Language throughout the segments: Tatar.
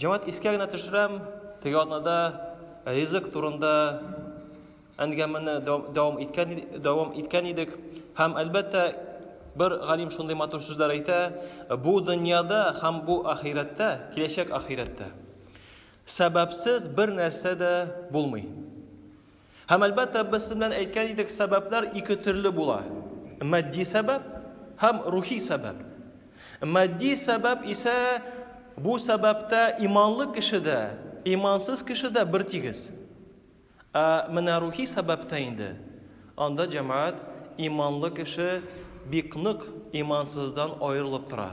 Җәмәт искә генә төшерәм, теге атнада ризык турында әңгәмәне дәвам иткән дәвам иткән идек һәм әлбәттә бер галим шундый матур сүзләр әйтә бу дөньяда һәм бу ахирәттә киләчәк ахирәттә сәбәпсез бер нәрсә дә булмый Һәм әлбәттә без сез белән әйткән идек, сәбәпләр ике төрле була. Матди сәбәп һәм рухи сәбәп. Матди сәбәп исә бу сәбәптә иманлы кеше дә, имансыз кеше дә бер тигез. Ә менә рухи сәбәптә инде анда җәмәгать иманлы кеше бик нык имансыздан аерылып тора.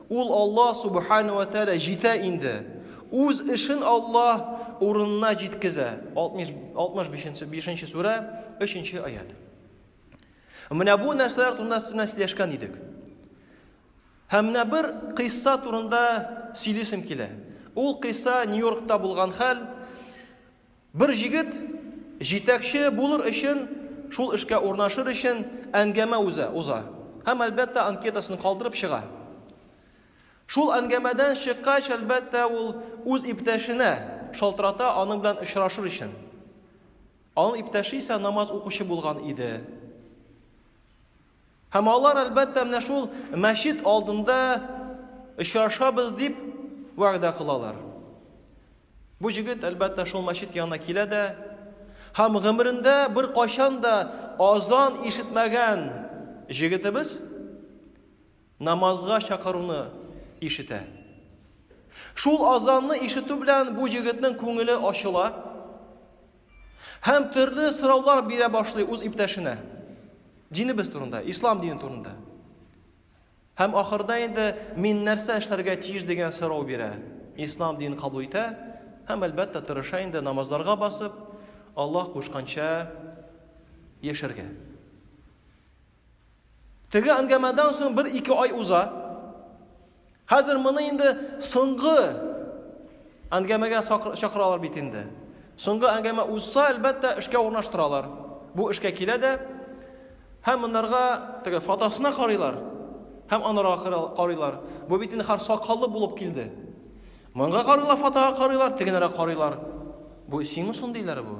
Ул Аллаһ Субхана вә Тәгалә җитә инде. Үз эшен Аллаһ урынына җиткезә. 65-нче сүрә, 3-нче аят. Менә бу нәрсәләр турында сез белән сөйләшкән идек. Һәм менә бер кыйсса турында сөйлисем килә. Ул кыйсса Нью-Йоркта булган хәл. Бер җегет җитәкче булыр өчен, шул эшкә урнашыр өчен әңгәмә уза, уза һәм, әлбәттә, анкетасын калдырып чыга. Шул әңгәмәдән чыккач, әлбәттә, ул үз иптәшенә шалтырата аның белән очрашыр өчен. Аның иптәше исә намаз укучы булган иде. Һәм алар, әлбәттә, менә шул мәчет алдында очрашабыз дип вәгъдә кылалар. Бу җегет, әлбәттә, шул мәчет янына килә дә, һәм гомерендә бер кайчан да азан ишетмәгән җегетебез намазга чакыруны ишетә. Шул азанны ишетү белән бу җегетнең күңеле ачыла, Һәм төрле сораулар бирә башлый үз иптәшенә. Динебез турында, ислам дине турында. Һәм ахырда инде мин нәрсә эшләргә тиеш дигән сорау бирә. Ислам динен кабул итә һәм әлбәттә тырыша инде намазларга басып, Аллаһ кушканча яшәргә. Теге әңгәмәдән соң бер-ике ай уза. Хәзер моны инде соңгы әңгәмәгә чакыралар бит инде. Соңгы әңгәмә узса, әлбәттә, эшкә урнаштыралар. Бу эшкә килә дә һәм монарга теге фотосына карыйлар һәм анарга карыйлар. Бу бит инде хар сакаллы булып килде. Монга карыйлар, фотога карыйлар, тегенәргә карыйлар. Бу сиңмы соң диләр бу?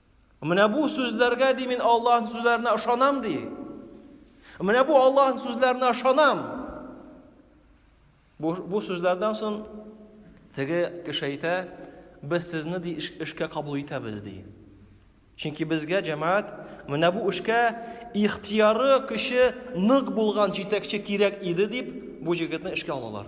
Менә бу сүзләргә ди мин Аллаһның сүзләренә ышанам ди. Менә бу Аллаһның сүзләренә ышанам. Бу, бу сүзләрдән соң теге кеше әйтә, без сезне ди эшкә кабул итәбез ди. Чөнки безгә җәмәгать менә бу эшкә ихтияры көче нык булган җитәкче кирәк иде дип, бу җегетне эшкә алалар.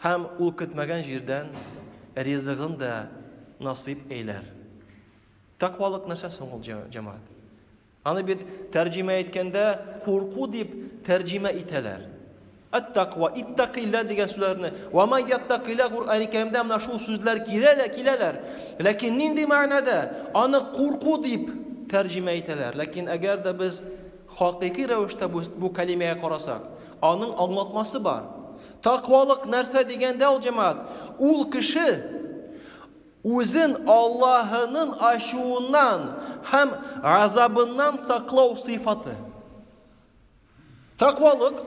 Һәм ул көтмәгән җирдән ризыгын да насыйп әйләр. Тәкъвалык нәрсә соң ул, җәмәгать? Аны бит тәрҗемә иткәндә курку дип тәрҗемә итәләр. Ат-таква, иттакилла дигән сүзләрне. Ва ма яттакилла Куръани Кәримдә менә шул сүзләр киләләр, киләләр. Ләкин нинди мәгънәдә? Аны курку дип тәрҗемә итәләр. Ләкин әгәр дә без хакыйкый рәвештә бу, бу кәлимәгә карасак, аның аңлатмасы бар. Такъвалык нәрсә дигәндә ул, җәмәгать? Ул кеше үзен Аллаһының ачуыннан һәм газабыннан саклау сыйфаты. Такъвалык,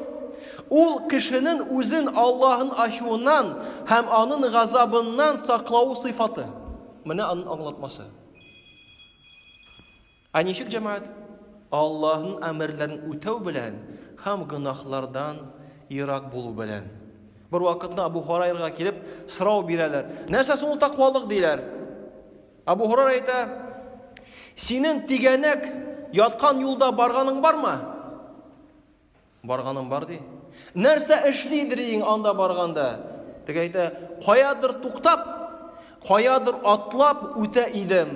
ул кешенең үзен Аллаһының ачуыннан һәм аның газабыннан саклавы сыйфаты. Менә аның аңлатмасы. Ә ничек җәмәгать Аллаһның әмерләрен үтәү белән һәм гөнаһлардан ерак булу белән? Бервакытны Абу Хурайрага килеп сорау бирәләр. Нәрсә соң ул таквалык диләр? Абу Хурайра әйтә, синең тигәнәк яткан юлда барганың бармы? Барганым бар ди. Нәрсә эшли идең анда барганда? Теге әйтә, каядыр туктап, каядыр атлап үтә идем.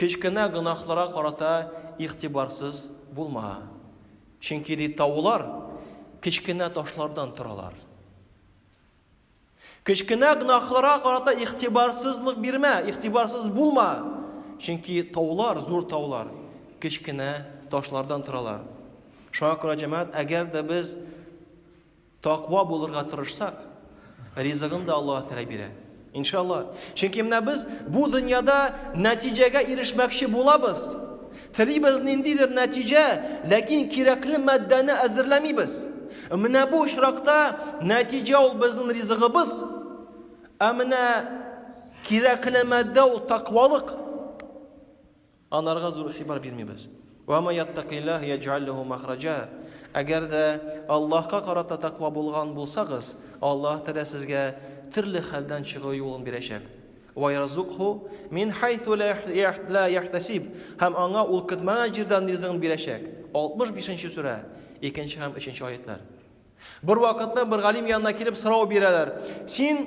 Кечкенә гөнаһларга карата игътибарсыз булма. Чөнки, ди, таулар кечкенә ташлардан торалар. Кечкенә гөнаһларга карата игътибарсызлык бирмә, игътибарсыз булма. Чөнки таулар, зур таулар, кечкенә ташлардан торалар. Шуңа күрә, җәмәгать, әгәр дә без Таква булырга тырышсак, ризыгын да Аллаһ Тәгалә бирә. Иншалла. Чөнки менә без бу дөньяда нәтиҗәгә ирешмәкче булабыз. Телибез ниндидер нәтиҗә, ләкин кирәкле матдәне әзерләмибез. Менә бу очракта нәтиҗә ул безнең ризыгыбыз, ә менә кирәкле матдә ул таквалык. Анарга зур игътибар бирмибез. Ва ма яттакиллаһ яҗ'аль ләһу мәхраҗа. Әгәр дә Аллаһка карата таква булган булсагыз, Аллаһ Тәгалә сезгә төрле хәлдән чыгу юлын бирәчәк. Ва ярзукху мин хайсу ла яхтасиб. Һәм аңа ул көтмәгән җирдән ризыгын бирәчәк. 65 нче сүрә, икенче һәм өченче аятьләр. Бервакытны бер галим янына килеп сорау бирәләр. Син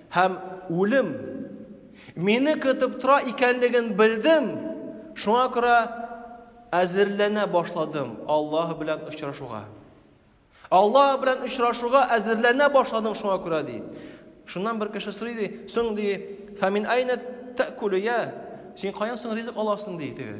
Һәм үлем мине көтеп тора икәнлеген белдем, шуңа күрә әзерләнә башладым Аллаһ белән очрашуга. Аллаһ белән очрашуга әзерләнә башладым шуңа күрә ди. Шуннан бер кеше сорый ди, соң ди, фамин айна тәкулия, син каян соң ризык аласың ди теге.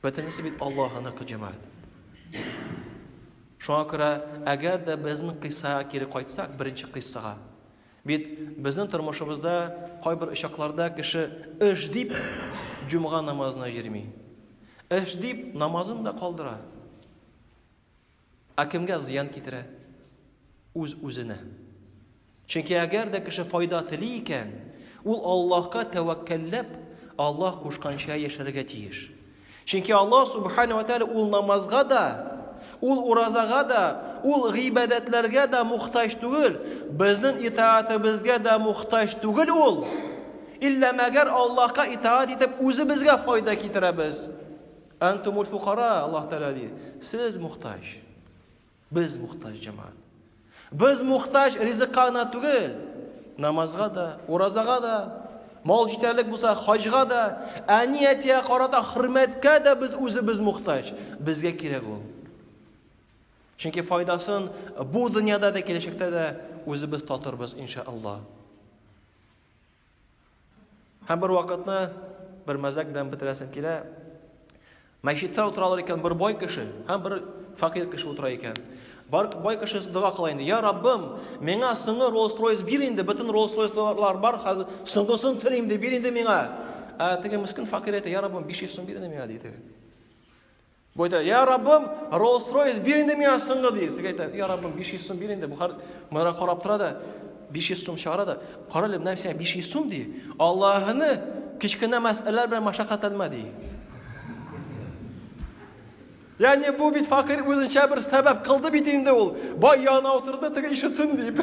Бөтенесе бит Аллаһыныкы җәмәгать. Шуңа күрә, әгәр дә безнең кыйссага кире кайтсак, беренче кыйссага, бит безнең тормышыбызда кайбер очакларда кеше эш дип җомга намазына йөрми. Эш дип намазын да калдыра. Ә кемгә зыян китерә? Үз-үзенә. Чөнки әгәр дә кеше файда тели икән, ул Аллаһка тәвәккәлләп, Аллаһ кушканча яшәргә тиеш. Чөнки Аллаһ Субхана ва Тәгалә ул намазга да, ул уразага да, ул гыйбадәтләргә дә мохтаҗ түгел, безнең итаатебезгә дә мохтаҗ түгел ул. Илла мәгәр Аллаһка итаат итеп үзебезгә файда китерәбез. Антумуль фукара, Аллаһ Тәгалә ди. Сез мухтаҗ. Без мухтаҗ җәмәгать. Без мухтаҗ ризыкка гына түгел, намазга да, уразага да, мал җитәрлек булса, хаҗга да, әни әтигә карата хөрмәткә дә без үзебез мухтаҗ. Безгә кирәк ул. Чөнки файдасын бу дөньяда да киләчәктә дә үзебез татырбыз иншаллаһ. Һәм бер вакытны бер мәзәк белән бетерәсем килә. Мәчеттә утыралар икән бер бай кеше һәм бер факир кеше утыра икән. Бар бай кеше дога кыла инде. Я Раббым, миңа соңгы Rolls-Royce бир инде, бөтен Rolls-Royce-лар бар, хәзер соңгысын телим дип бир инде миңа. Ә теге мискин факир әйтә, я Раббым, 500 сум бир инде миңа диде. Бу әйтә, я Раббым, Rolls-Royce бир инде миңа соңгы, ди. Теге әйтә, я Раббым, 500 сум бир инде. Бухар моңа карап тора да, 500 сум чыгара да, кара әле, менә сиңа 500 сум, ди. Аллаһыны кечкенә мәсьәләләр белән машакатьләнмә, ди. Ягъни бу бит факир үзенчә бер сәбәп кылды бит инде ул. Бай янына утырды, теге ишетсен дип.